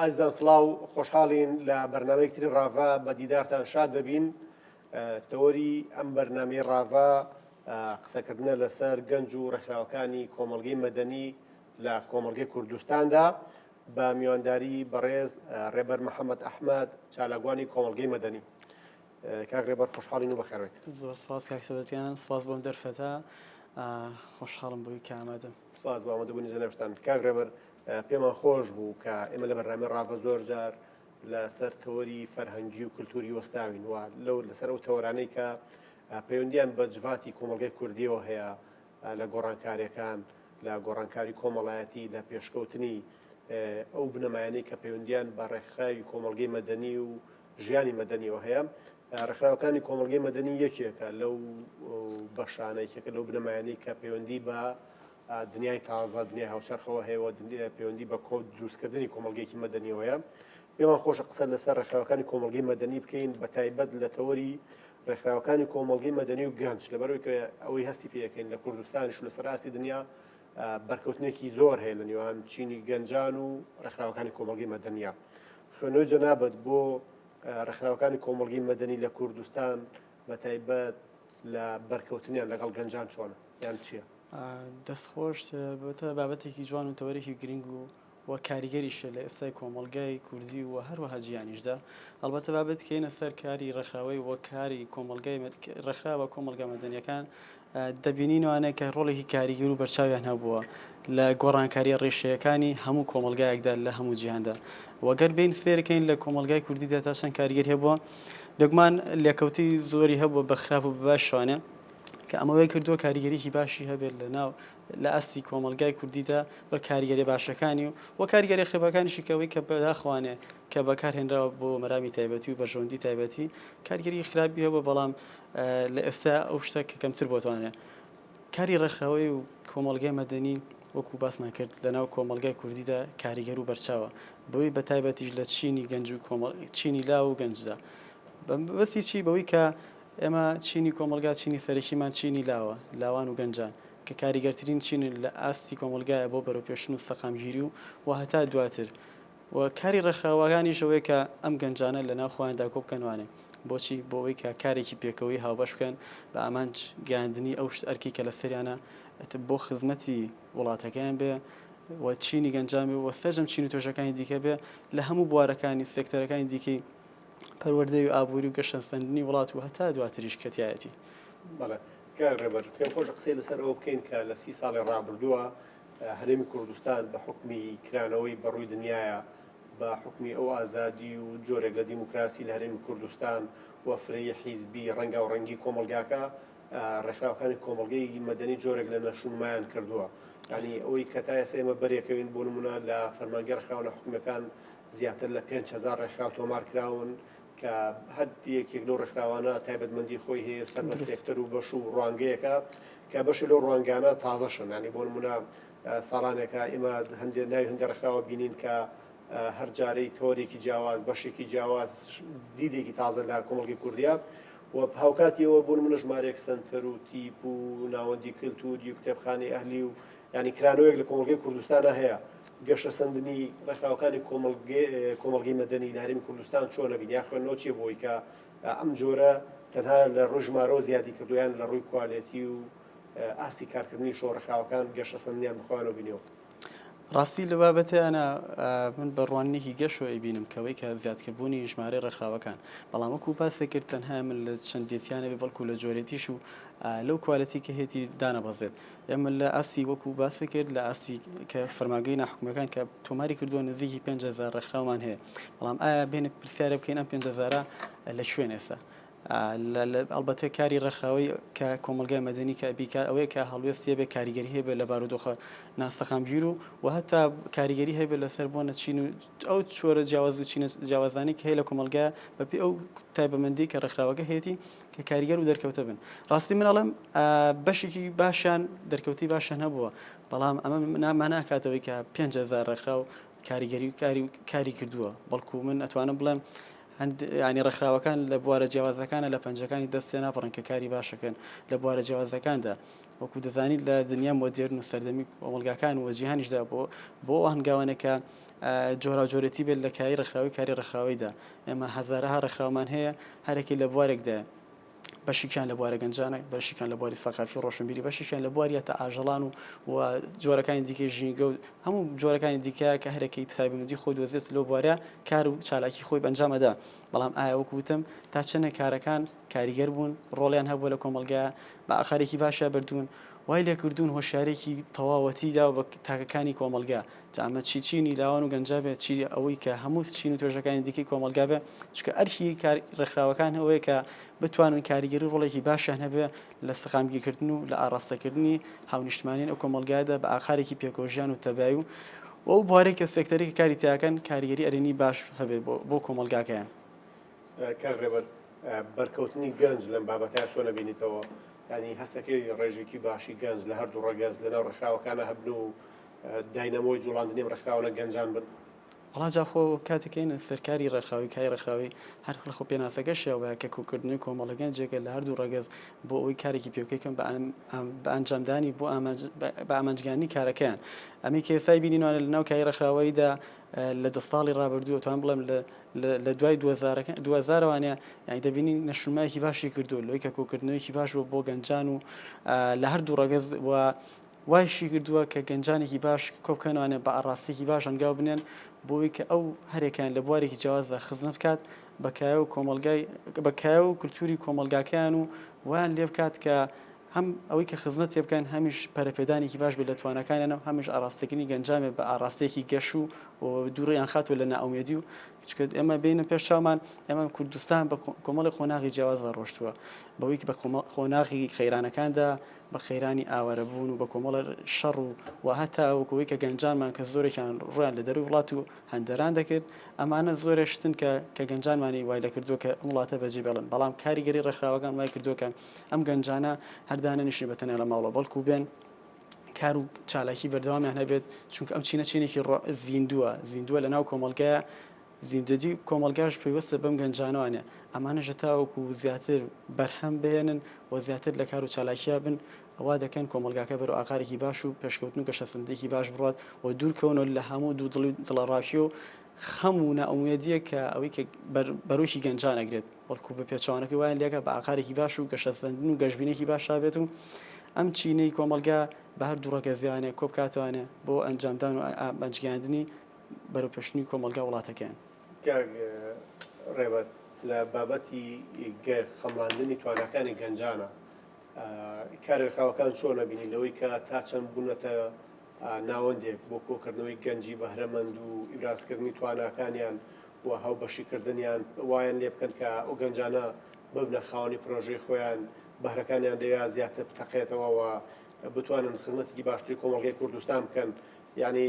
ئازیزان سڵاو خۆشحاڵین لە بەرنامەی تری ڕاڤە بە دیدارتان شاد دەبین تەوەری ئەم بەرنمەی ڕاڤە قسەکردنە لەسەر گەنج و ڕێکخراوەکانی کۆمەلگەی مەدەنی لە کۆمەلگەی کوردستاندا بە میوانداری بەڕێز ڕێبەر محەممەد ئەحمد چالاگوانی کۆمەلگەی مەدەنی کاک ڕێبەر خۆشحاڵین و بەخێڕێت زۆر سپاس کاکسەبەتیان سپاس بۆم دەرفەتە خۆشحاڵم بۆی کامەدەم سپاس بۆ ئامادەبوونی جەنابتان. کاک ڕێبەر پێمان خۆش بوو کە ئێمە لە بەرنامەی ڕاڤە زۆر جار لەسەر تەوەری فەرهەنگی و کللتوری وەستاوین و لەو لەسەر ئەو تەوەرانەی کە پەیوەندیان بە جڤاتی کۆمەڵگەی کوردیەوە هەیە لە گۆڕانکارەکان لە گۆڕانکاری کۆمەڵایەتی لە پێشکەوتنی ئەو بنەمایانەی کە پەیوەندیان بە ڕێکخراوی کۆمەڵگەی مەدەنی و ژیانی مەدەنیەوە هەیە ڕێکخراوەکانی کۆمەڵگەی مەدەنی یەکێکە لەو بەشانە یەکێکە لەو بنەمایانەی کە پەیوەندی بە دنیای تازە دنیای هاوچەرخەوە هەیەوە پەیوەندی بە کۆ دروستکردنی کۆمەلگەیەکی مەدەنیەوەیە پێمان خۆشە قسە لەسەر ڕێکخراوەکانی کۆمەلگەی مەدەنی بکەین بە تایبەت لە تەوەری ڕێکخراوەکانی کۆمەلگەی مەدەنی و گەنج لەبەرەوەی کە ئەوەی هەستی پێەکەین لە کوردستانیش و لەسەر ئاستی دنیا بەرکەوتنێکی زۆر هەیە لە نێوان چینی گەنجان و ڕێکخراوەکانی کۆمەلگەی مەدەنیا خوێنەوەی جەنابەت بۆ ڕێکخراوەکانی کۆمەڵگەی مەدەنی لە کوردستان بە تایبەت لە بەرکەوتنیان لەگەڵ گەنجان چۆنە یان چییە؟ دەستخۆش بەتە بابەتێکی جوان و تەوەرێکی گرنگ و و کاریگەریشە لە ئێستای کۆمەلگای کوردی و هەروەها جیانیشدا هەڵبەتە بابێت کەینە سەر کاری ڕێکخراوەی وەکاری کۆمەلگای ڕێکخراوە کۆمەلگا مەدەنیەکان دەبینین ئەوانەیە کە ڕۆڵێکی کاریگەر و بەرچاویان هەبووە لە گۆڕانکارییە ڕیشەیەکانی هەموو کۆمەڵگایەکدا لە هەموو جیهاندا و گەر بێین سەیر بکەین لە کۆمەڵگای کوردیدا تا چەند کاریگەری هەبووە، بێگومان لێکەوتەی زۆری هەبووە بە خراپ و بە باشی شوانێ کە ئەمە وای کردووە کاریگەریی باشی هەبێت لەناو لە ئاستی کۆمەڵگای کوردیدا بە کاریگەرییە باشەکانی و و کاریگەرییە خراپەکانیشی کە ئەوەی کە بەداخەوانێ کە بەکارهێنراوە بۆ مەرامی تایبەتی و بەرژەوەندی تایبەتی کارگێریی خراپی هەبووە، بەڵام لە ئێستا ئەو شتە کە کەمتر بۆتانە. کاری ڕێکخراوەیی و کۆمەڵگای مەدەنی وەکوو باسمان کرد لەناو کۆمەڵگای کوردیدا کاریگەر و بەرچاوە، بەوەی بە تایبەتیش لە چینی گەنج و چینی لاو و گەنجدا. بە مەبەستی چی؟ بەوەی کە ئێمە چینی کۆمەڵگا چینی سەرەکیمان چینی لاوە، لاوان و گەنجان کە کاریگەرترین چینن لە ئاستی کۆمەڵگایە بۆ بەرەوپێشچوون و سەقامگیری و هەتا دواتر. و کاری ڕێکخراوەکانیش ئەوەیە کە ئەم گەنجانە لە ناو خۆیاندا کۆ بکەنوانێ بۆچی بۆ ئەوەی کە کارێکی پێکەوەی هاوبەش بکەن بە ئامانج گەیاندنی ئەو شت ئەرکی کە لەسەریانە ئەتە بۆ خزمەتی وڵاتەکەیان بێ و چینی گەنجان بێ و سەرجەم چین و توێژەکانی دیکە بێ لە هەموو بوارەکانی سێکتەرەکانی دیکەی پەروەردەی و ئابووری و گەشەسەندنی وڵات و هەتا دواتریش کە تیایەتی. بەڵێ کاک ڕێبەر پێم خۆشە قسەی لەسەر ئەوە بکەین کە لە سی ساڵی ڕابردووە هەرێمی کوردستان بە حوکمی کرانەوەی بە ڕووی دنیایە بە حوکمی ئەو ئازادی و جۆرێک لە دیموکراسی لە هەرێمی کوردستان و فرەیی حیزبی ڕەنگاو ڕەنگی کۆمەڵگاکە ڕێکخراوەکانی کۆمەڵگەی مەدەنی جۆرێک لە نەشونمایان کردووە ینی ئەوەی کە تا ئێستا ئێمە بەرێکەوین بۆ نمونە لە فەرمانگە ڕێکخراوە حکومەکان زیاتر لە 5 هزار ڕێکخراو تۆمار کراون کە هەر یەکێک لەو ڕێکخراوانە تایبەتمەندی خۆی هەیە و سەر بە سێکتەر و بەش و ڕوانگەیەکە کە بەشێ لەو ڕوانگانە تازەشن یانی بۆ نموونە ساڵانێکە ئێمە هەندێ ناوی هەندێ ڕێکخراوە بینین کە هەر جارەی تۆرێکی جیاواز بەشێکی جیاواز دیدێکی تازە لە کۆمەڵگەی کوردیا و هاوکاتیەوە بوون منە ژمارەیەک سنتەر و تیپ و ناوەندی کللتوری و کتێبخانی ئەهلی و ینی کرانەوەیەک لە کۆمەلگەی کوردستانە هەیە گەشەسەندنی ڕێکخراوەکانی کۆمەڵگەی مەدەنی لە هەرێمی کوردستان چۆنە، بین یان خوێندنەوە چییە بۆ ئەوەی کە ئەم جۆرە تەنها لە ڕووی ژمارەوە زیادی کردووە یان لە ڕووی کوالێتی و ئاستی کارکردنیشەوە ڕێکخراوەکان گەشەسەندنیان بە خۆیانەوە بینیوە؟ ڕاستی لە بابەتێ ئەنا من بە ڕوانینێکی گەشەوە ئەیبینم کەوەی کە زیادکردبوونی ژمارەی ڕێکخراوەکان بەڵام وەکو پاسێ کرد تەنها من لە چەندێتیانەبێ بەڵکو لە جۆرێتیش و لەو کوالەتی کە هێتی دانەبەزێت ئێمە لە ئاستی وەکو باسی کرد لە ئاستی کە فەرماگەی ناحکومەکان کە تۆماری کردووە نزیکی 5هزار ڕێکخراومان هەیە بەڵام ئایا بێنێت پرسیارە بکەین ئەم 5هزارە لە شوێن ئێستا ئەلبەتە کاری ڕێکخراوی کە کۆمەلگای مەدەنی کە بیکار ئەوەیە کە هەڵوێستیە بێ کاریگەری هەیە لە بارودۆخە ناسەقامگیر و و هەتا کاریگەری هەیە لەسەر بۆ نەچین و ئەو چۆرە جیاواز و چینە جیاوازانەی کە هەیە لە کۆمەڵگا بەپێ ئەو تایبەمەندی کە ڕێکخراوەکە هەیەی کە کاریگەر و دەرکەوتە بن ڕاستی مناڵم بەشێکی باشیان دەرکەوتی باشە نەبووە بەڵام ئەمە ناماناکاتەوەی کە 5هزار ڕێکخرا و کاریگەری و کاری و کاری کردووە بەڵکو من ئەتوانم بڵێم ینی ڕێکخراوەکان لە بوارە جیاوازەکانە لە پەنجەکانی دەستێ ناپڕن کە کاری باشەکەن لە بوارە جیاوازەکاندا وەکو دەزانیت لە دنیا مۆدێرن و سەردەمی کۆمەڵگاکان و جیهانیشدا بۆ بۆ ئەو هەنگاوانە کە جۆراوجۆرێتی بێت لە کاری ڕێکخراوی کاری ڕێکخراویدا ئێمە هەزارەها ڕێکخراومان هەیە هەرەکی لە بوارێکدا بەشیکیان لە بوارە گەنجانە بەشیکان لە بواری سەقافی ڕۆشنبیری بەشیکیان لە بواریە تا ئاژەڵان و و جۆرەکانی دیکە ژینگە و هەموو جۆرەکانی دیکە کە هەرەکەی تایبەتی خۆی دۆزێت لەو بوارە کار و چالاکی خۆی بەنجامەدا بەڵام ئایا وەکوتم تا چەنە کارەکان کاریگەر بوون ڕۆڵیان هەبوو لە کۆمەلگا بە ئاقارێکی باشا بردوون، وای لێ کردوون هۆشیارێکی تەواوەتی داوە بە تاکەکانی کۆمەڵگا، جا ئەمە چی چینی لاوان و گەنجا بێت، چی ئەوەی کە هەموو چین و توێژەکانی دیکەی کۆمەڵگا بێ، چونکە ئەرکی ڕێکخراوەکان ئەوەیە کە بتوانن کاریگەری و ڕۆڵێکی باشیان هەبێ لە سەقامگیرکردن و لە ئاڕاستەکردنی هاونیشتمانیانی ئەو کۆمەڵگایەدا بە ئاقارێکی پێکۆژیان و تەبای و ئەو بوارەی کە سێکتەری کە کاری تیاکەن کاریگەری ئەرێنی باش هەبێ بۆ کۆمەڵگاکەیان. کاک ڕێبەر. بەرکەوتنی گەنج لەم بابەتە چۆن نەبینیتەوە ینی هەستەکەی ڕێژێکی باشی گەنج لە هەردوو ڕگەز لەناو ڕخراوەکانە هەبن و داینەمۆی جوڵاندنی ڕخراوە گەنجان بن وڵاجاخۆ کاتەکەین سەرکاری ڕێکخراوی کای ڕێکخراوی هەر خۆ پێناسەکە شێوە کە کۆکردنی کۆمەڵەگەن جێگە لە هەردوو ڕگەز بۆ ئەوی کارێکی پێوکەکەم بە ئەنجامدانی بۆ بە ئامانجگانی کارەکەیان ئەمی کێسای بینینوانە لە ناو کای ڕێکخراوەیدا لە دە ساڵی ڕابردوو ئەتوانم بڵێم لە دوای دوزارەوانە یانی دەبینین نەشونمایەکی باشی کردو لۆی کە کۆکردنەوەیکی باش بۆ بۆ گەنجان و لە هەردوو ڕەگەز و وایشی کردووە کە گەنجانێکی باش کۆبکەنوانە بە ئاڕاستێکی باش هەنگاو بنێن بۆی کە ئەو هەرێکیان لە بوارێکی جیازدا خزمە بکات بەکایە و کۆمەلگای بەکایە و کللتوری کۆمەلگاکەیان و وان لێ بکات کە هەم ئەوەی کە خزمەت پێ بکەن، هەمیش پەرەپێدانێکی باش بێت لە تواناکانیان و هەمیش ئاراستەکردنی گەنجانێ بە ئاراستەیەکی گەش و دووریان خاتەوە لە نائومێدی و چونکە ئێمە بێنە پێش چاومان ئێمە کوردستان بە کۆمەڵێ قۆناغی جیاوازدا ڕۆشتووە بەوەی کە بە کۆمەڵ قۆناغی قەیرانەکاندا بە قەیرانی ئاوارەبوون و بە کۆمەڵە شەڕ و و هەتا وەکەوەی کە گەنجانمان کە زۆرێکیان ڕویان لە دەروی وڵات و هەندەران دەکرد ئەمانە زۆرێ شتن کە کە گەنجانمانی وای لە کردووە کە ئەم وڵاتە بەجێ بێڵن بەڵام کاریگەری ڕێکخراوەکان وای کردووە کە ئەم گەنجانە هەر دانەنیشن بە تەنیا لە ماڵەوە بەڵکو بێن کار و چالاکی بەردەوامیان هەبێت چونکە ئەم چینە چینێکی زیندووە زیندووە لە ناو کۆمەلگایە زیندەدی کۆمەلگاش پێیوەستە بەم گەنجانوانە ئەمانەژە تاوەکو زیاتر بەرهەم بێنن و زیاتر لە کار و چالاکیا بن ئەوا دەکەن کۆمەلگاکە بەرو ئاقارێکی باش و پێشکەوتن و گەشەسەندێکی باش بڕات و دوورکەونە لە هەموو دوو دڵی دڵەڕاکی و خەم و نائومێدیە کە ئەوەی کە بەرۆکی گەنجانەگرێت بەڵکو بە پێچەوانەکەی وایان لێکا بە ئاقارێکی باش و گەشەسەندن و گەشبینێکی باشا بێت و ئەم چینەی کۆمەڵگا بە هەر دوو ڕەگەزیانێ کۆبکاتوانێ بۆ ئەنجامدان و ئامانجگەیاندنی بەرەو پێشنووی کۆمەڵگا وڵاتەکەیان. کاک ڕێبەر لە بابەتی خەمڵاندنی تواناکانی گەنجانە کارێلخراوەکان چۆنە بینی لەوەی کە تا چەند بوونەتە ناوەندێک بۆ کۆکردنەوەی گەنجی بەهرەمەند و ئیبرازکردنی تواناکانیان و هاوبەشی کردنیان وایان لێ بکەن کە ئەو گەنجانە ببنە خاوەنی پرۆژەی خۆیان، بەهرەکانیان لەوێیا زیاتر بتەقێتەوە و بتوانن خزمەتێکی باشتری کۆمەڵگەی کوردستان بکەن. یانی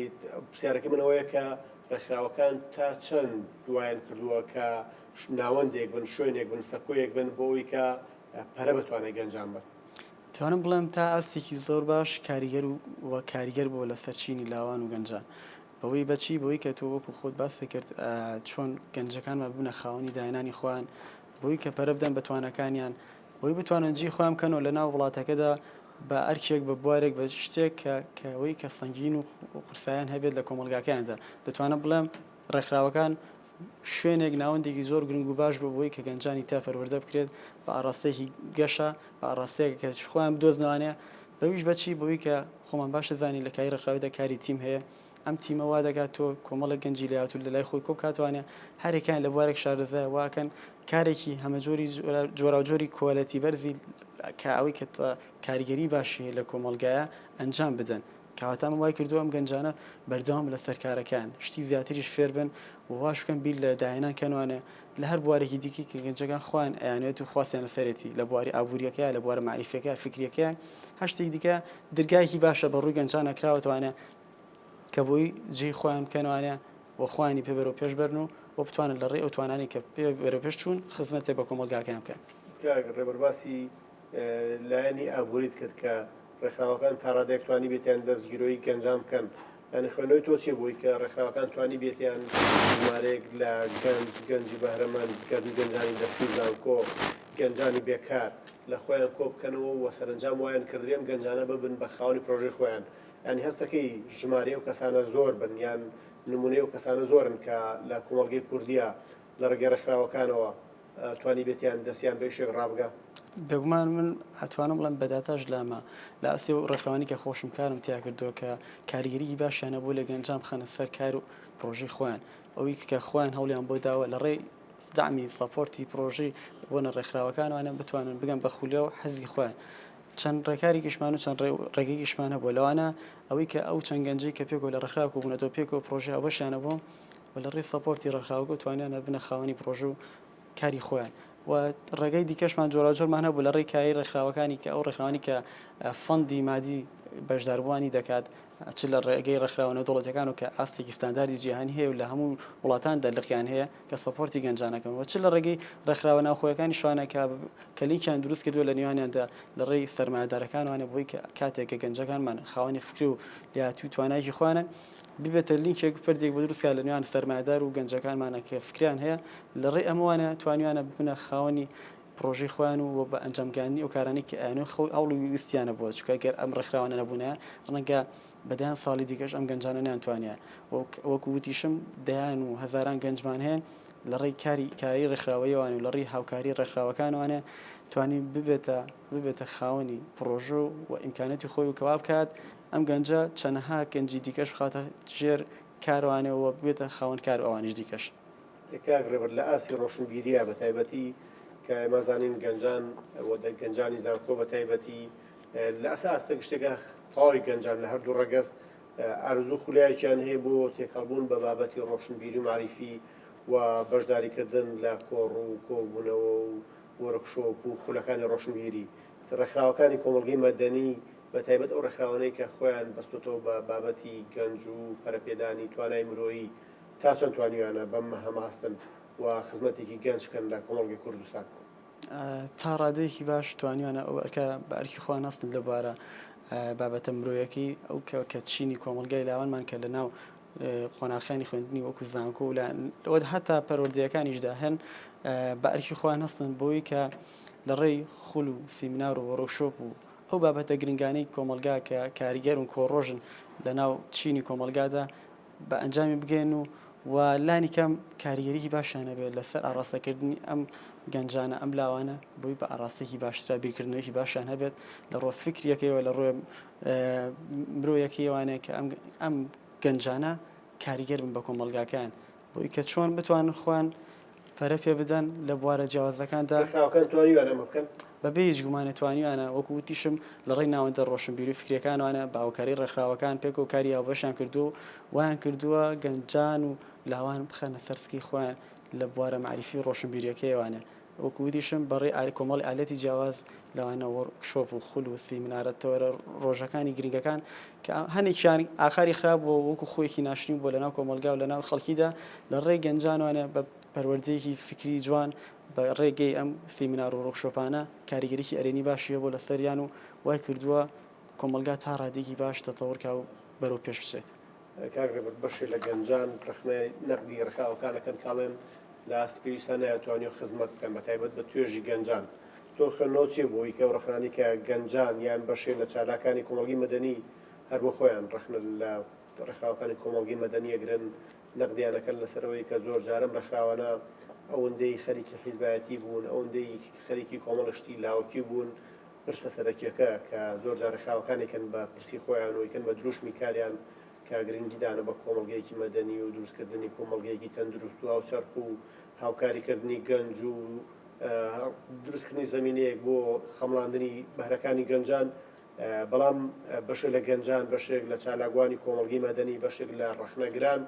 پرسیارەکەی من ئەوەیە کە ڕێکخراوەکان تا چەند وایان کردووە کە ناوەندێک بن، شوێنێک بن، سەکۆیەک بن بۆ ئەوەی کە پەرە بە توانای گەنجان بەن؟ دەتوانم بڵێم تا ئاستێکی زۆر باش کاریگەر و کاریگەر بووە لەسەر چینی لاوان و گەنجان. بەوەی بە چی؟ بەوەی کە تۆ وەکو خۆت باست دەکرد چۆن گەنجەکانمان ببنە خاوەنی داهێنانی خۆیان، بەوەی کە پەرە بدەن بە توانەکانیان، بەوەی بتوانن جێی خۆیان بکەن و لەناو وڵاتەکەدا بە ئەرکێک، بە بوارێک، بە شتێک کە کە ئەوەی کە سەنگین و قورسایان هەبێت لە کۆمەڵگاکەیاندا. دەتوانم بڵێم ڕێکخراوەکان شوێنێک، ناوەندێکی زۆر گرنگ و باش بوو بەوەی کە گەنجانی تیا پەروەردە بکرێت بە ئاڕاستەیەکی گەشە، بە ئاڕاستەیەک کە خۆیان بدۆزنەوانێ، بەویش بە چی؟ بەوەی کە. خۆمان باش ئەزانین لە کای ڕێکخراویدا کاری تیم هەیە، ئەم تیمە وا دەکات تۆ کۆمەڵێک گەنجی لێهاتوو لە لای خۆی کۆ بکاتەوانە، هەر یەکەیان لە بوارێک شارەزایە وا ئەکەن کارێکی هەمەجۆری جۆراوجۆری کۆالێتی بەرزی کە ئەوەی کە کاریگەری باشی هەیە لە کۆمەڵگایە ئەنجام بدەن، کەواتە ئەمە وای کردووە ئەم گەنجانە بەردەوام بن لەسەر کارەکەیان، شتی زیاتریش فێر بن و واش بکەن بیر لە داهێنان کەنوانە، لە هەر بوارێکی دیکەی کە گەنجەکان خۆیان ئەیانەوێت و خواستیان لەسەرێتی، لە بواری ئابوورییەکەیە، لە بوارە مەعریفییەکەیە، فیکرییەکەیە، هەر شتێکی دیکە، درگایەکی باشە بە ڕووی گەنجانە کراوەتەوانە کە بۆی جێی خۆیان بکەنەوانە و خۆیانی پێ بەرەو پێش بەرن و و بتوانن لە ڕێی ئەو توانانەی کە پێ بەرەو پێش چوون خزمەتێ بە کۆمەڵگاکەیان بکەن. کاک ڕێبەر باسی لایەنی ئابووریت کرد کە ڕێکخراوەکان تا ڕادەیەک توانیبێتیان دەستگیرۆی گەنجان بکەن یانی خوێندنەوەی تۆ چی بوویت کە ڕێکخراوەکان توانیبێت یان ژمارەیەک لە گەنج، گەنجی بەهرەمەند، گەنج، گەنجانی دەرچووی زانکۆ، گەنجانی بێکار لە خۆیان کۆ بکەنەوە و سەرەنجام وایان کردبێ ئەم گەنجانە ببن بە خاوەنی پرۆژەی خۆیان؟ یانی هەست دەکەی ژمارەی ئەو کەسانە زۆر بن یان نموونەی ئەو کەسانە زۆرن کە لە کۆمەڵگەی کوردیا لە ڕێگەی ڕێکخراوەکانەوە توانیبێت یان دەستیان بە شێک ڕابگا. بێگومان من ئەتوانم بڵێم بە داتاش لامە لە ئاستی و ڕێکخراوانی کە خۆشم کارم تیا کردووە کە کاریگەریی باشیانە بۆ لە گەنجان بخەنە سەر کار و پرۆژەی خۆیان ئەوی کە خۆیان هەوڵیان بۆ داوە لە ڕێی دامی سەپۆرتی پرۆژەی بۆنە ڕێکخراوەکانوانە بتوانن بگەن بە خولە و حەزی خۆیان چەند ڕێکاری گشمان و چەند ڕێگەی گشمانە بۆ لەوانە ئەوەی کە ئەو چەند گەنجی کە پێکۆ لە ڕێکخراوە بوونەتەوە پێکۆ پرۆژە ئەوەشیانە بۆ و لە ڕێی سەپۆرتی ڕێکخراوەکەوە توانیان ببنە خاوەنی پڕۆژە و کاری خۆیان و ڕێگای دیکەشمان جۆراوجۆرمان هەبوو لە ڕێی کایەی ڕێکخراوەکانی کە ئەو ڕێکخراوانی کە فەندی مادی بەشداربووانی دەکات چ لە ڕێگەی ڕێکخراوە نێودەوڵەتیەکان و کە ئاستێکی ستانداردی جیهانی هەیە و لە هەموو وڵاتاندا لقیان هەیە کە سەپۆرتی گەنجانەکەن و چ لە ڕێگەی ڕێکخراوە ناوخۆیەکانی شوانە کە کە لینکیان دروست کردووە لە نێوانیاندا لە ڕێی سەرمایەدارەکانوانە بۆی کە کاتێک کە گەنجەکانمان خاوەنی فکری و لێهاتووی توانایەکی خۆیانن ببێتە لینکێک پردێک بۆ دروست کا لە نێوان سەرمایەدار و گەنجەکانمانا کە فکریان هەیە لە ڕێی ئەمەوانە توانیویانە ببنە خاوەنی پڕۆژەی خۆیان و وە بە ئەنجام گەیاندنی ئەو کارانەی کە ئەیانەوێت خەو هەوڵ و ویستیانە بۆ چونکە ئەگەر ئەم ڕێکخراوانە نەبوونایە ڕەنگە بە دەیان ساڵی دیکەش ئەم گەنجانە نەیانتوانیان وەک وەکو وتیشم دەیان و هەزاران گەنجمان هەیە لە ڕێی کاری کاری ڕێکخراوەیەوانە و لە ڕێی هاوکاری ڕێکخراوەکانوانە توانی ببێتە ببێتە خاوەنی پڕۆژە و ئیمکانیاتی خۆی و کە وا بکات ئەم گەنجە چەنەها گەنجی دیکەش بخاتە ژێر کاروانێ و ببێتە خاوەن کار و ئەوانیش دیکەش. کاک ڕێبەر لە ئاستی ڕۆشنبیرییە بە تایبەتی کە ئێمە زانین گەنجان و گەنجانی زانکۆ بە تایبەتی لە ئەسە ئاستێک شتێکە تەواوی گەنجان لە هەردوو ڕەگەز ئارزوو خولایەکیان هەیە بۆ تێکەڵبوون بە بابەتی ڕۆشنبیری و مەعریفی و بەشداریکردن لە کۆڕ و کۆبوونەوە و وۆرکشۆپ و خولەکانی ڕۆشنبیری ڕێکخراوەکانی کۆمەڵگەی مەدەنی بە تایبەت ئەو ڕێکخراوانەی کە خۆیان بەستۆتەوە بە بابەتی گەنج و پەرەپێدانی توانای مرۆیی تا چەند توانیویانە بەم هەماستن و خزمەتێکی گەنج کەن لە کۆمەڵگەی کوردستان؟ تا ڕادەیەکی باش توانیویانە ئەو ئەرکە بە ئەرکی خۆیان هەستن لە بوارە بابەتە مرۆیەکەی ئەو کە چینی کۆمەڵگای لاوانمان کە لە ناو قۆناخیانی خوێندنی وەکو زانکۆ و لە هەتا پەروەردەیەکانیشدا هەن بە ئەرکی خۆیان هەستن بۆی کە لە ڕێی خول و سیمینار و وۆرکشۆپ و ئەو بابەتە گرنگانەی کۆمەڵگا کە کاریگەر و کۆڕۆژن لە ناو چینی کۆمەڵگادا بە ئەنجامی بگەن و و لانی کەم کاریگەریی باشیان هەبێت لەسەر ئاڕاستەکردنی ئەم گەنجانە، ئەم لاوانە بۆی بە ئاڕاستەیەکی باشترە بیرکردنەوەیەکی باشیان هەبێت لە ڕووە فیکرییەکەیەوە، لە ڕووێ مرۆیەکەیەوانێ کە ئەم گەنجانە کاریگەر بن بە کۆمەڵگاکەیان. بووی کە چۆن بتوانن خۆیان پەرە پێ بدەن لە بوارە جیاوازەکاندا. ڕێکخراوەکان توانیویانە ئەمە بکەن؟ بە بێ هیچ گومانێ توانیویانە، وەکو وتیشم لە ڕێی ناوەندە ڕۆشنبیری و فکرییەکانەوانە بە هاوکاری ڕێکخراوەکان پێکەوە کاری هاوبەشیان کردووە و وایان کردووە گەنجان و لاوان بخەنە سەر سکی خۆیان لە بوارە مەعریفی و ڕۆشنبیرییەکەیەوانە. وەکو وتیشم بەڕێی ئا کۆمەڵی ئالەتی جیاواز لەوانە وۆرک شۆپ و خول و سیمینارە تەوەرە ڕۆژەکانی گرنگەکان کە هەنێکیان ئاخاری خراپ بووە وەکو خۆیەکی ناشرین بووە لەناو کۆمەڵگا و لەناو خەڵکیدا لە ڕێی گەنجانوانە بە پەروەردەیەکی فیکری جوان بە ڕێگەی ئەم سیمینار و ڕۆکشۆپانە کاریگەریی ئەرێنی باشی هەبووە لە سەریان و وای کردووە کۆمەڵگا تا ڕادەیەکی باش تەتەوڕ کا و بەرەو پێش بچێت. کاک رێبەر بەشێ لە گەنجان رەخنەی نەقدی رێکخراوەکانەکەن کاڵێن لە ئاستی پێویستان نایە توانیوە خزمەت بکەن بە تایبەت بە توێژی گەنجان تۆ خوێندنەوە چیە بۆ هیکە و رەخنانی کە گەنجان یان بەشێ لە چالاکانی کۆمەڵگی مەدەنی هەر بۆ خۆیان رەخنە لە رێکخراوەکانی کۆمەڵگی مەدەنی ئەگرن نەقدیانەکەن لەسەرەوەی کە زۆر جارم رێکخراوانە ئەوەندەی خەریکی حیزبایەتی بوون ئەوەندەی خەریکی کۆمەڵە شتی لاوەکی بوون پرسە سەرەکیەکە کە زۆرجار ڕێکخراوەکان ئەیکەن بە پرسی خۆیان و ئەیکەن بە دروشمی کاریان کە گرنگی دانە بە کۆمەڵگەیەکی مەدەنی و دروست کردنی کومەڵگەیەکی تەندروست و هاوچەرخ و هاوکاری کردنی گەنج و دروست کردنی زەمینەیەک بۆ خەمڵاندنی بەهرەکانی گەنجان بەڵام بەشێک لە گەنجان بەشێک لە چالاکوانی کۆمەڵگەی مەدەنی بەشێک لە ڕەخنەگران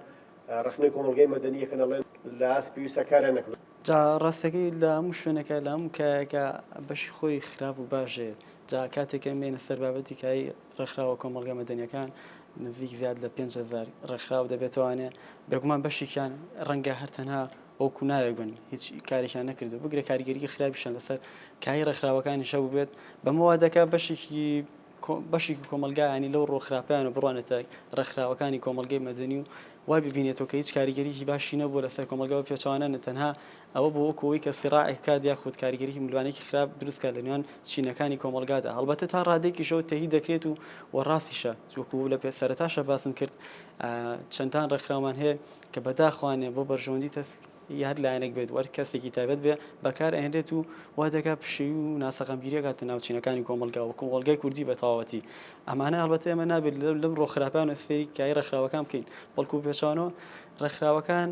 ڕەخنەی کۆمەڵگەی مەدەنی یەکەن ئەڵێن لە ئاست پێویستە کاریان نەکەن. جا ڕاستەکەی لە هەموو شوێنەکە لە هەموو کایەکە بەشی خۆی خراپ و باش هەیە جا کاتێک کە مێنە سەر بابەتی کایی ڕێکخراوە کۆمەڵگە مەدەنیەکان نزیک زیاد لە پێنج هەزار ڕێکخراو دەبێتوانێ بێگومان بەشێکیان ڕەنگە هەر تەنها وەکو ناوێک بن هیچ کارێکیان نەکردو بگرە کاریگەریی خراپیشیان لەسەر کایی ڕێکخراوەکانیشە بووبێت بەمەوە دەکا بەشێکی بەشێکی کۆمەڵگایانی لەو ڕووە خراپەیان و بڕوانێتە ڕێکخراوەکانی کۆمەڵگەی مەدەنی و وای ببینێتەوە کە هیچ کاریگەریی باشی نەبووە لەسەر کۆمەڵگا بە پێچەوانە نە تەنها ئەوە بووە وەکوو ئەوەی کە سیڕاعێک بکات یاخود کاریگەریی ملوانێکی خراپ دروست بکات لە نێوان چینەکانی کۆمەڵگادا هەڵبەتە تا ڕادەیەکیشەوە تەیید دەکرێت و و ڕاستیشە وەکوو لە پێ سەرەتاشە باسم کرد چەندان ڕێکخراومان هەیە کە بەداخوانێ بۆ بەرژەوەندی تەسک ی هەر لایەنێک بێت و هەر کەسێکی تایبەت بێت بەکار ئەهێنرێت و وا دەکات پشێوی و ناسەقامگیری ئەکاتە ناو چینەکانی کۆمەڵگا و کۆمەڵگای کوردی بە تەواوەتی. ئەمانە هەڵبەتە ئێمە نابێت لەمڕۆ خراپانە سەیری کایەی ڕێکخراوەکان بکەین، بەڵکو بە پێچەوانەوە ڕێکخراوەکان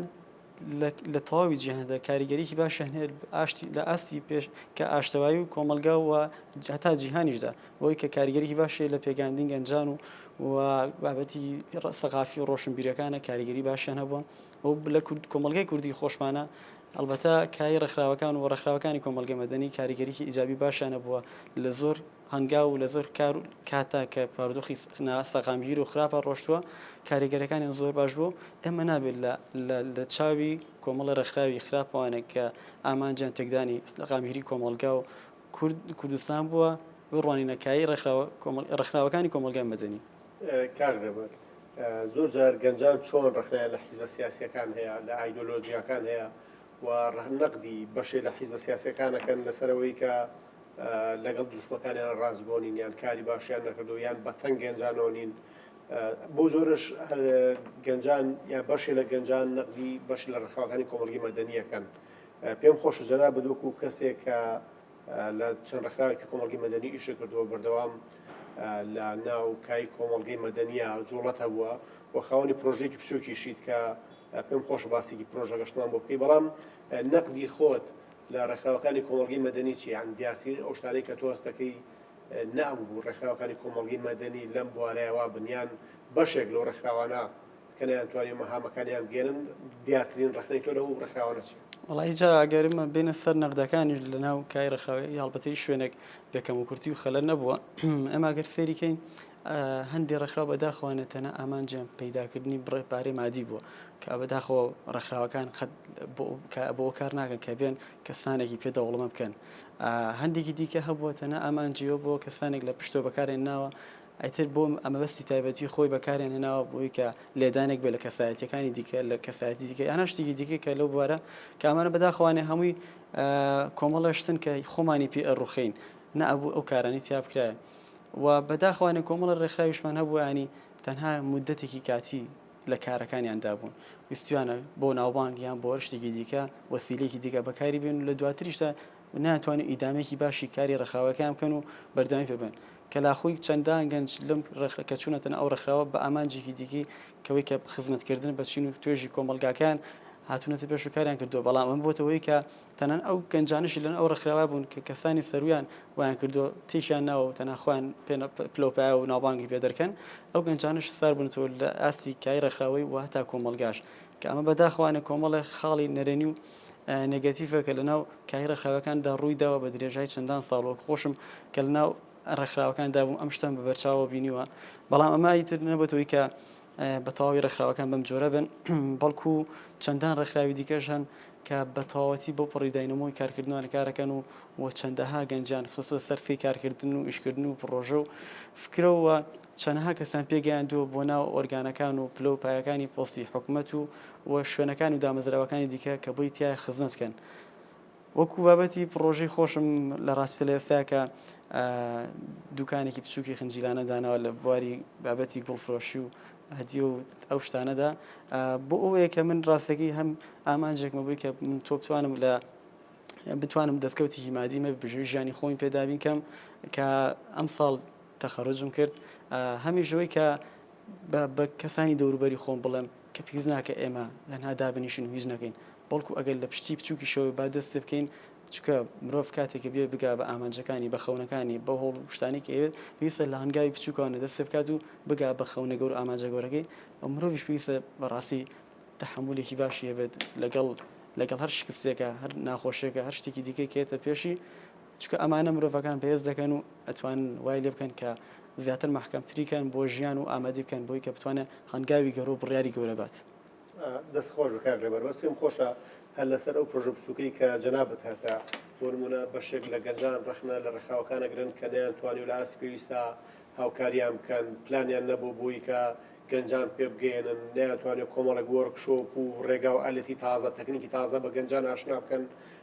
لە لە تەواوی جیهاندا کاریگەریی باشیان هەیە لە ئاشتی لە ئاستی پێش کە ئاشتەوایی و کۆمەڵگا و هەتا جیهانیشدا بۆی کە کاریگەریی باشی هەیە لە پێگەیاندنی گەنجان و و بابەتی ڕە سەقافی و ڕۆشنبیرییەکانە کاریگەریی باشیان هەبووە. ئەو لە کورد کۆمەڵگای کوردی خۆشمانە، ئەڵبەتە کای ڕێکخراوەکان و ڕێکخراوەکانی کۆمەڵگەی مەدەنی کاریگەریی ئیجابی باشیان هەبووە لە زۆر هەنگاو و لە زۆر کار و کاتدا کە بارودۆخی ناسەقامگیر و خراپە ڕۆشتووە کاریگەریەکانیان زۆر باش بووە و ئێمە نابێت لە لە لە چاوی کۆمەڵی ڕێکخراوی خراپەوانێک کە ئامانجیان تێکدانی سەقامگیری کۆمەڵگا و کورد کوردستان بووە بڕوانینە کای ڕێکخراوە کۆمەڵ ڕێکخراوەکانی کۆمەڵگای مەدەنی. کاک نەمر زۆر جار گەنجان چۆن ڕەخنەیان لە حیزبە سیاسیەکان هەیە لە ئایدۆلۆجیاکان هەیە و ڕەهنەقدی بەشێ لە حیزبە سیاسەکانەکەن لەسەرەوەی کە لەگەڵ دروشمەکانیان ڕاستگۆنین یان کاری باشیان نەکردو یان بەتەنگ گەنجانەوە نین بۆ زۆرش گەنجان یا بەشێ لە گەنجان نەقدی بەش لە ڕخواکانی کۆمەڵگی مەدەنیەکەن پێم خۆش جەنا بدوک و کەسێک کە لە چەند ڕێکخراوێکی کۆمەڵگەی مەدەنی ئیشی کردووە، بەردەوام لە ناو کای کۆمەڵگەی مەدەنییە جووڵەت هەبووە و خاوەنی پرۆژەیەکی بچووکیشیت کە پێم خۆشە باسێکی پرۆژەکەشتمان بۆ بکەی، بەڵام نەقدی خۆت لە ڕێکخراوەکانی کۆمەڵگەی مەدەنی چییە؟ یانی دیارترین ئەو شتانەی کە تۆ هەست دەکەی نەئەبوو ڕێکخراوەکانی کۆمەڵگەی مەدەنی لەم بوارەیە وا بن یان بەشێک لەو ڕێکخراوانە کە نەیانتوانی مەهامەکانیان بگەیەنن، دیارترین ڕەخنەی تۆ لەو ڕێکخراوانە چییە؟ وەڵا ئیجا ئەگەر بێینە سەر نەقدەکانیش لە ناو کای ڕێکخراوەکەی هەڵبەتەی شوێنێک بێ کەموکورتی و خەلەل نەبووە ئێمە گەر سەیری کەین هەندێ ڕێکخراو بەداخەوانە تەنە ئامانجیان پەیداکردنی بڕێ پارەی مادی بووە کە بەداخۆ ڕێکخراوەکان قەت بۆ کار ناکەن کە بێن کەسانێکی پێ دەوڵەمە بکەن هەندێکی دیکە هەبووە تەنە ئامانجیەوە بۆ کەسانێک لە پشتۆ بەکارێن ناوە ئیتر بۆ مەبەستی تایبەتی خۆی بەکاریان هێناوە بۆی کە لێدانێک بێت لە کەسایەتیەکانی دیکە لە کەسایەتی دیکە یان هەر شتێکی دیکە کە لەو بوارە کە ئەمانە بەداخەوانێ هەمووی کۆمەڵە شتن کە خۆمانی پێ ئەڕوخێین نە ئەبوو ئەو کارانەی تیا بکرایە و بەداخەوانێ کۆمەڵە ڕێکخراویشمان هەبوو ینی تەنها مدەتێکی کاتی لە کارەکانیان دابوون ویستویانە بۆ ناوبانگ یان بۆ هەر شتێکی دیکە وەسیلەیەکی دیکە بەکاری بێن و لە دواتریشدا نەیانتوانی ئیدامەیەکی باشی کاری ڕێکخراوەکەیان بکەن و بەردەوامی پێ بێن. کەلاخوی چەندان گەنج لەم ڕێکخ کە چوونەتەنە ئەو ڕێکخراوە بە ئامانجێکی دیکەی کەوەی کە خزمەت کردن بە چین و توێژی کۆمەڵگاکەیان هاتوونەتە پێش و کاریان کردووە بەڵام ئەمە بۆتە هۆی کە تەنان ئەو گەنجانشی لەن ئەو ڕێکخراوە بوون کە کەسانی سەرویان وایان کردووە تێکیان ناوە و تەنها خۆیان پلەوپایە و ناوبانگی پێ دەرکەن ئەو گەنجانش خسار بوونەتەوە لە ئاستی کای ڕێکخراوەی و هەتا کۆمەڵگاش کە ئەمە بەداخەوانە کۆمەڵێ خاڵی نەرێنی و نێگەتیڤە کە لەناو کای ڕێکخراوەکاندا ڕووی داوە بە درێژای چەندان ساڵ وەک خۆشم کە لەناو ڕێکخراوەکاندا بووم ئەم شتەم بە بەرچاوە بینیوە بەڵام ئەمە ئیتر نەبەتەوەی کە بە تەواوی ڕێکخراوەکان بەم جۆرە بن بەڵکو چەندان ڕێکخراوی دیکەش هەن کە بە تەواوەتی بۆ پڕی داینەمۆی کارکردنوان کارەکەن و و چەندەها گەنجان خستوە سەرسی کارکردن و ئیشکردن و پرۆژە و فکرەوە چەنەها کەسیان پێگەیاندووە بۆ ناو ئۆرگانەکان و پلە و پایەکانی پۆستی حکومەت و و شوێنەکان و دامەزراوەکانی دیکە کە بۆی تیایە خزمەت بکەن وەکو بابەتی پڕۆژەی خۆشم لە ڕاستیدا لە ئێستاکە دوکانێکی بچووکی خنجیلانە داناوە لە بواری بابەتی گوڵفرۆشی و هەدیە و ئەو شتانەدا بۆ ئەوەیە کە من ڕاستەکەی هەم ئامانجێکمە بووی کە من تۆ بتوانم لە بتوانم دەستکەوتێکی مادیمە بژێ ژیانی خۆی پێدابین کەم کە ئەم ساڵ تەخەروجم کرد هەمیش لەوەی کە بە بە کەسانی دەوروبەری خۆم بڵێم کە پێویست ناکە ئێمە تەنها دابنیشن و هیچ نەکەین بەڵکو ئەگەر لە پشتی بچووکیشەوە با دەست پێ بکەین چونکە مرۆڤ کاتێک بێ بگا بە ئامانجەکانی بە خەونەکانی بە هۆڵ و شتانێک ئەوێت پێویستە لە هەنگاوی بچووکانە دەست پێ بکات و بگا بە خەونە گەور و ئامانجە گەورەکەی ئەو مرۆڤیش پێویستە بەڕاستی تحملێکی باشی هەبێت لەگەڵ لەگەڵ هەر شکستێکە هەر ناخۆشیێکە هەر شتێکی دیکەی کێتە پێشی چونکە ئەمانە مرۆڤەکان بەهێز دەکەن و ئەتوانن وای لێ بکەن کە زیاتر مەحکەمتری کەن بۆ ژیان و ئامادەی بکەن بۆی کە بتوانێ هەنگاوی گەورە و بڕیاری گەورە بات. دەست خۆش بێ کاک رێبەر بەس پێم خۆشە هەر لەسەر ئەو پرۆژە بچوکەی کە جەنابت هەتە بۆ نمونە بەشێک لە گەنجان رەخنە لە رێکخراوەکان ئەگرن کە نەیان توانی و لە ئاستی پێویستا هاوکاریان بکەن پلانیان نەبوو بۆی کە گەنجان پێ بگەیەنن نەیان توانی کۆمەڵێک وۆرک شۆپ و رێگا و ئالەتی تازە تەکنیکی تازە بە گەنجان ئاشنا بکەن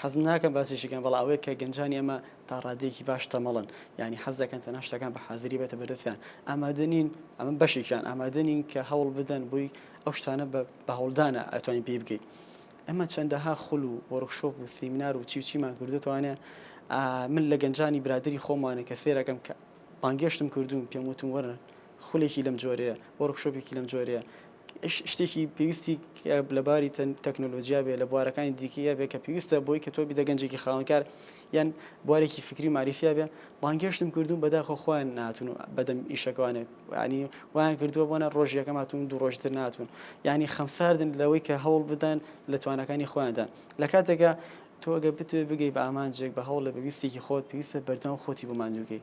حەز ناکەم باسیشی بکەم، بەڵام ئەوەیە کە گەنجانی ئێمە تا ڕاددەیەکی باش تەمەڵن، یانی حەز دەکەن تەنها شتەکان بە حازری بێتە بەردەستیان، ئامادە نین، ئەمە بەشێکیان، ئامادە نین کە هەوڵ بدەن بۆی، ئەو شتانە بە بە هەوڵدانە ئەتوانین پێی بگەین. ئێمە چەندەها خول و وۆرکشۆپ و سیمینار و چی و چیمان کردۆتەوانێ، ئا من لە گەنجانی برادەری خۆمانێ کە سەیر ئەکەم کە بانگێشتم کردوون پێم وتوون وەرن خولێکی لەم جۆرەیە، وۆرکشۆپێکی لەم جۆرەیە، شتێکی پێویستی لە باری تەکنۆلۆژیا بێ لە بوارەکانی دیکەیە بێ کە پێویستە بۆی کە تۆ بیدە گەنجێکی خاونکار یان بوارێکی فکری و معریفیا بێ بانگێشتم کردوون بەداخۆ خۆیان ناتون و بەدەم ئیشەکانێک ینی وایان کردووە بۆنە ڕۆژیەکە ماتون دوو ڕۆژتر ناتون ینی خەمساردن لەوەی کە هەوڵ بدەن لە توانەکانی خۆیاندا لە کاتێکە تۆگە بتێ بگەی بە ئامانجێک بە هەوڵ لە بەویستێکی خۆت پێویستە بەردەوام خۆتی بۆ ماندووگەی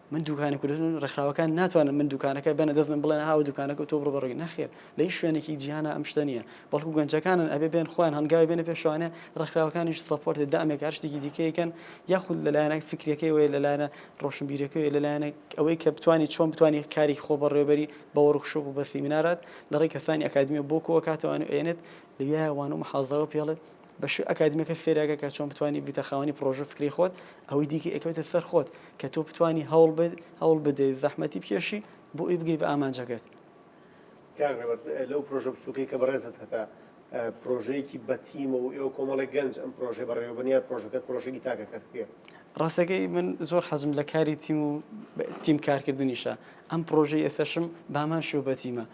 من دوکانە کوردستان ڕێکخراوەکان ناتوانن من دوکانەکە بەنە دەست من بڵێن هاو دوکانەکە تۆ بڕۆ بەڕێ نەخێر لە هیچ شوێنێکی جیهانا ئەم شتە نییە بەڵکو گەنجەکانن ئەبێ بێن خۆیان هەنگاوی بێنە پێشوانێ ڕێکخراوەکانیش سەپۆرتێ دامێک هەر شتێکی دیکەیەکەن یاخود لەلایەنە فکرەکەی وەیە لەلایەنە ڕۆشنبیرەکەی لەلایەنە ئەوەی کە بتانی چۆن بتانی کاری خۆ بەڕێوبەری بە وەرخشۆپ و بە سیمینارات لەڕێی کەسانی ئەکادمیە بۆ کۆکاتەوەوان ئێنێت لەویایوان و محازەوە پێڵێت بەشی ئەکادیمیەکە فێرەکە کە چۆن بتوانی بیتە خاوەنی پڕۆژە فکری خۆت، ئەوەی دیکە ئەکەوێتە سەر خۆت کە تۆ بتوانی هەوڵ بدەیت زەحمەتی بکێشی بۆ ئەوی بگەی بە ئامانجەکەت. کاک ڕێبەر لەو پرۆژە بچوکەی کە بەڕێزت هەتا پرۆژەیەکی بە تیمە و ئێوە کۆمەڵێک گەنج ئەم پرۆژەی بەڕێوەبەرن یان پرۆژەکەت پرۆژەیەکی تاکە کەسیە؟ ڕاستەکەی من زۆر حەزم لە کاری تیم و تیم کارکردنیشە، ئەم پرۆژەی ئێستەشم بەهەمان شێوە بە تیمە،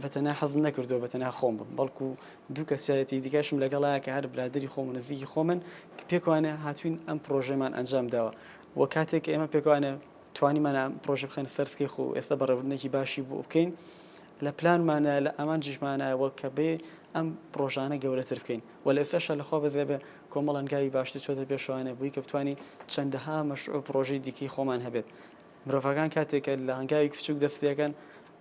بەتەنها حەزم نەکردووە بەتەنها خۆم بم، بەڵکو دوو کەسایەتی دیکەشم لەگەڵایە کە هەر برادەری خۆم و نزیکی خۆمن، کە پێکەوانە هاتووین ئەم پڕۆژەیەمان ئەنجام داوە و کاتێک ئێمە پێکەوانە توانیمان ئەم پڕۆژە بخەینە سەر سکەی خۆ و ئێستا بەڕێوەبردنێکی باشی بۆ بکەین، لە پلانماندایە، لە ئامانجیشماندایە و کە بێ ئەم پڕۆژانە گەورەتر بکەین و لە ئێستاشدا لە خوا بەزێ بێ کۆمەڵ هەنگاوی باشتر چۆتە پێشەوانە بۆی کە بتوانین چەندەها مەشروع و پڕۆژەی دیکەی خۆمان هەبێت. مرۆڤەکان کاتێک کە لە هەنگاوی کوچوک دەست پێکەن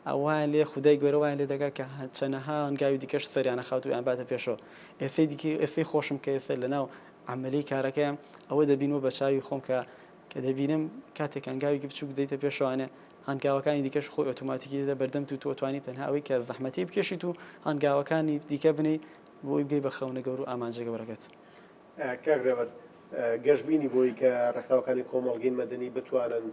ئەوان لێ خودای گەورە وایان لێ دەکات کە چەنەها هەنگاوی دیکەش سەریانە خاتو یان باتە پێشەوە ئێسەی دیکە ئێسەی خۆشم کە ئێسە لەناو عملی کارەکەیان ئەوە دەبینەوە بە چاوی خۆم کە کە دەبینم کاتێک هەنگاوێکی بچوک دەیتە پێشوانێ هەنگاوەکانی دیکەش خۆی ئۆتۆماتیکی دێتە بەردەم تو تۆتوانی تەنها ئەوەی کە زەحمەتی بکێشیت و هەنگاوەکانی دیکە بنی بۆی بگەی بە خەونە گەور و ئامانجە گەورەکەت کاک رێبەر گەشبینی بووی کە رێکخراوەکانی کۆمەڵگەی مەدەنی بتوانن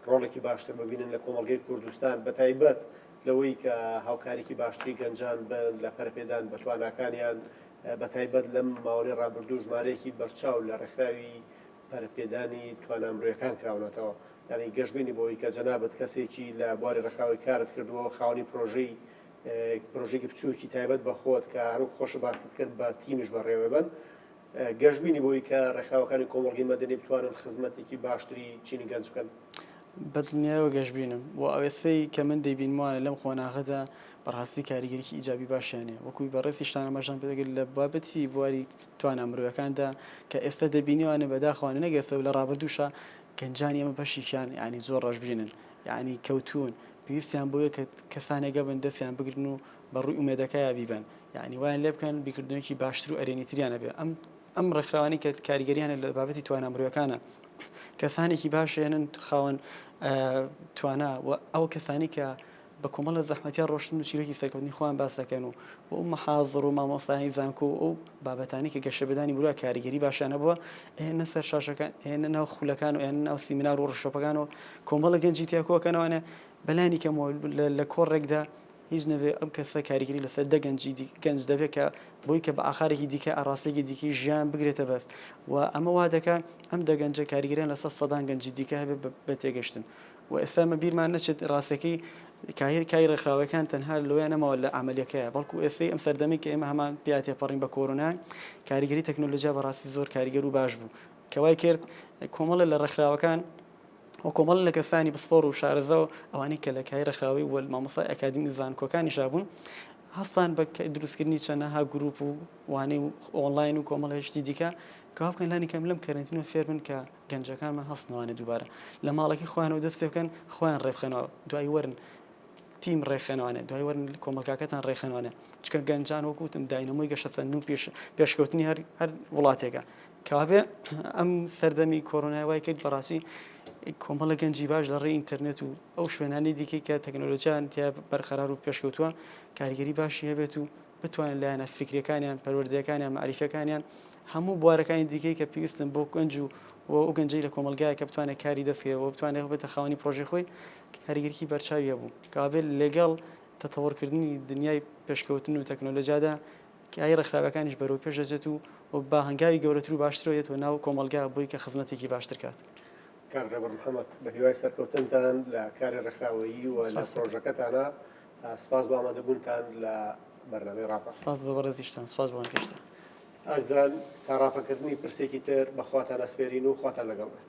رۆڵێکی باشتر ببینن لە کۆمەڵگەی کوردستان بەتایبەت لەوەی کە هاوکاریی باشتری گەنجان بن لە پەرەپێدان بە تواناکانیان بەتایبەت لەم ماوەی رابردوو ژمارەیەکی بەرچاو لە رێکخراوی پەرەپێدانی توانا مرۆیەکان کراونەتەوە یانی گەشبینی بووی کە جەنابت کەسێکی لە بواری رێکخراوەی کارت کردووە خاوەنی پرۆژەی پرۆژەیەکی بچووکی تایبەت بە خۆت کە هەروک خۆشە باست کرد بە تیمیش بەڕێوەبەن گەشببینی بۆی کە ڕێکخراوەکانی کۆمەڵگەی مەدەنی بتوانن خزمەتێکی باشتری چینی گەنج بکەن. بەدڵنیایەوە گەشبینم و ئەوێستەی کە من دەیبینموانە لەم قۆناغەدا بەڕاستی کاریگەریی ئیجابی باشیان هەیە وەکوی بەڕێزی شتان ئاماژەم پێ دەگرت لە بابەتی بواری توانا مرۆیەکاندا کە ئێستا دەبینیوانە بەداخەوانە نەگەسەو لە ڕابردووشە گەنجانی ئەمە بەشیکیان یعنی زۆر ڕەشبینن یەعنی کەوتوون پێویستیان بەوەیە کە کەسانێک هەبن دەستیان بگرن و بە ڕووی ئومێدەکایە بیبەن یەعنی وایان لێ بکەن بیرکردنەوەیەکی باشتر و ئەرێنی تریان هەبێ ئەم ئەم ڕێکخراوانەی کە کاریگەریان هەیە لە بابەتی توانا مرۆیەکانە کەسانێکی باش هێنن خاوەن توانا و ئەو کەسانی کە بە کۆمەڵە زەحمەتیان ڕۆشتن و چیرۆکی سەرکەوتنی خۆیان باس دەکەن و و مەحازڕ و مامۆستایانی زانکۆ و ئەو بابەتانی کە گەشەبدانی برا کاریگەری باشیانە بووە ئێنە سەر شاشەکان ئێنە ناو خولەکان و ئێن ناو سیمنار و ڕشۆپەکان و کۆمەڵە گەنجی تیا کۆکەنەوانە بەلانی کەمەوە لە کۆڕێکدا هیچ نەبێ ئەم کەسە کاریگەری لەسەر دە گەنجی گەنج دەبێت کە بۆی کە بە ئاخارێکی دیکە ئاراستێکی دیکی ژیان بگرێتە بەست و ئەمە وا دەکە ئەم دەگەنجە کاریگەریان لەسەر سەدان گەنجی دیکە هەبێ بە تێگەشتن و ئێستا مە بیرمان نەچێت ڕاستەکەی کاهر کای ڕێکخراوەکان تەنها لۆیان نەماوە لە ئەمەلەکەیە بەڵکو ئێستەی ئەم سەردەمی کە ئێمە هەمان پیا تێپەڕین بە کۆرۆنا کاریگەری تەکنۆلۆژیا بەڕاستی زۆر کاریگەر و باش بوو کەوای کرد کۆمەڵە لە ڕێکخراوەکان و کۆمەڵە لە کەسانی پسپۆڕ و شارەزا و ئەوانەی کە لە کای ڕێکخراوەی و مامۆستای ئەکادیمی و زانکۆکانیشا بوون هەستان بە دروستکردنی چەندەها گروپ و وانەی و ئۆنلاین و کۆمەڵە شتی دیکە کەوا بکەن لانی کەم لەم کەرنتینەوە فێر بن کە گەنجەکانمان هەستنەوانە دووبارە لە ماڵەکەی خۆیانەوە دەست پێ بکەن خۆیان ڕێبخەنەوە دوایی وەرن تیم ڕێکخەنەوانێ دوای وەرن کۆمەلکاکەتان ڕێکخەنەوانێ چکە گەنجان وەکوتم داینەمۆی گەشەسەندن و پێش پێشکەوتنی هەر هەر وڵاتێکە کاکە ئەم سەردەمی کۆرۆنای وای کرد بەڕاستی کۆمەڵە گەنجی باش لە ڕێی ئینتەرنێت و ئەو شوێنانی دیکەی کە تەکنۆلۆژیان تیا بەرقەرار و پێشکەوتووە کاریگەری باشی هەبێت و بتوانن لایەنە فکرەکانیان پەروەردەکانیان معریفەکانیان هەموو بوارەکانی دیکەی کە پێویستن بۆ گەنج و و گەنجی لە کۆمەلگای کە بتوانێت کاری دەستکەوە بتوانێت بێتە خاوەنی پرۆژی خۆی کاریگەرکی بەرچاویە بوو کابێت لەگەڵ تەتەوەڕکردنی دنیای پێشکەوتن و تەکنۆلۆژیادا کایەی ڕێکخراوەکانیش بەرەوپێش دەچێت و با هەنگاوی گەورەتر و باشترەوە یێتەوە ناو کۆمەڵگا بۆی کە خزمەتێکی باشتر کات. کاک ڕێبەر محەمەد، بە هیوای سەرکەوتنتان لە کاری ڕێکخراوەیی و لە پڕۆژەکەتانا، سوپاس بۆ ئامادەبوونتان لە بەرنامەی ڕاپەڕین. سوپاس بۆ بەڕێزیشتان، سوپاس بۆ ئەم گەشتە. ئەزان، تا ڕاپەکردنی پرسێکی تر بە خواتان ئەسپێرین و خواتان لەگەڵ بێت.